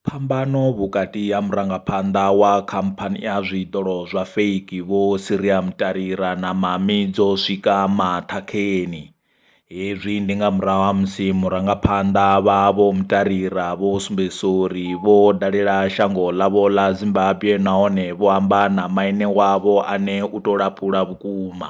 Phambano vhukati ha murangaphanḓa wa khamphani ya zwiṱolo zwa fake Vho Siria Mtalira na Mamy dzo swika maṱhakheni. Hezwi ndi nga murahu ha musi murangaphanḓa vha Vho Mtalira vho sumbedzisa uri vho dalela shango ḽavho ḽa Zimbabwe nahone vho amba na maine wavho ane u tou lapula vhukuma.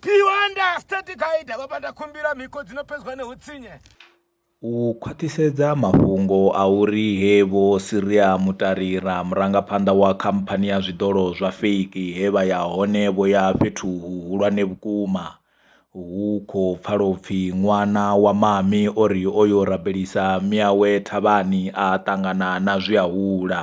Piwanda State Guide vho pata khumbila miko dzi no pedzwa ne hutsinye. U khwaṱhisedza mafhungo a uri he Vho Siria Mutarira, murangaphanḓa wa khamphani ya zwiḓolo zwa fake he vha ya hone vho ya fhethu huhulwane vhukuma, hu khou pfala u pfi ṅwana wa Mami o ri o yo rabelisa miawe thavhani a ṱangana na zwiahula.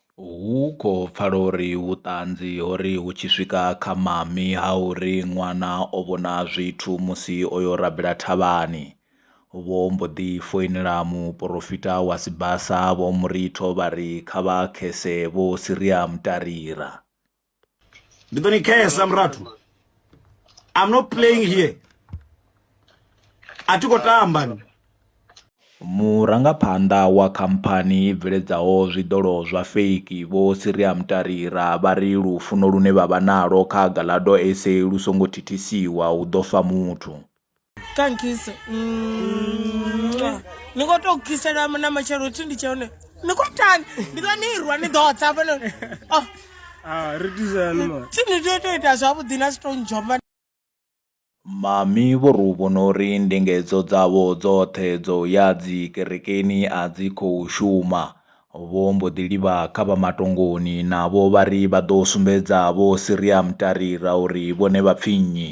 Hu khou pfala uri vhuṱanzi ho ri hu tshi swika kha mami ha uri ṅwana o vhona zwithu musi o yo rabela thavhani, vho mbo ḓi foinela muporofita wa Sibasa Vho Muritho vha ri kha vha khese Vho Siriamu Tarira. ndi ḓo ni khesa murathu i'm not playing here a thi khou tamba ni Murangaphanḓa wa khamphani i bveledzaho zwiḓolo zwa feiki Vho Siria Mutarira vha ri lufuno lune vha vha nalwo kha Gallado SA lu songo thithisiwa hu ḓo fa muthu. kankise mm. ni khou tou kisela na matshelo thi ndi tshe hone ni khou tani ndi ḓo ni irwa ni ḓo tsa fhano oh. ah, ri tisani ma thi ni tea tou ita zwavhuḓi na si tou ndzhomba Mami vho ri u vhona uri ndingedzo dzavho dzoṱhe dzo ya dzi kerekeni a dzi khou shuma. Vho mbo ḓi livha kha vha matongoni navho vha ri vha ḓo sumbedza vho Siriam Tarira uri vhone vha pfi nnyi.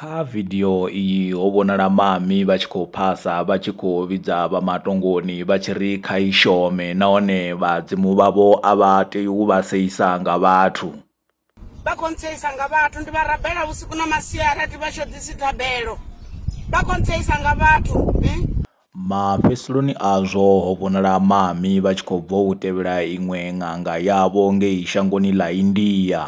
Kha vidio iyi ho vhonala Mami vha tshi khou phasa vha tshi khou vhidza vha matongoni vha tshi ri kha i shome nahone vhadzimu vhavho a vha tei u vha seisa nga vhathu. Vha khou ntseisa nga vhathu, ndi vha rabela vhusiku na masiari a thi vha shoḓisi thabelo. Vha khou ntseisa nga vhathu. Mafhesuloni azwo ho vhonala Maami vha tshi khou bva u tevhela iṅwe ṅanga yavho ngei shangoni ḽa India,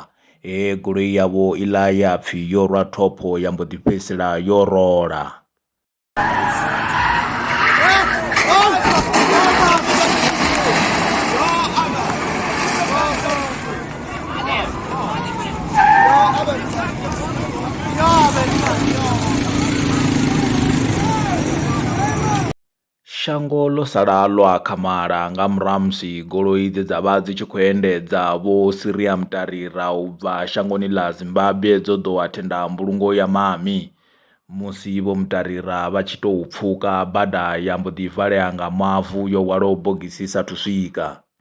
he goloi yavho iḽa ya pfi yo rwa thopho ya mbo ḓi fhedzisela yo rola. Shango ḽo sala ḽo akhamala nga murahu ha musi goloi dze dza vha dzi tshi khou endedza Vho Siria Mutarira u bva shangoni ḽa Zimbabwe dzo ḓowa thenda mbulungo ya Mami. Musi Vho Mutarira vha tshi tou pfuka bada ya mbo ḓi valea nga mavu yo hwalaho bogisi i sa athu swika.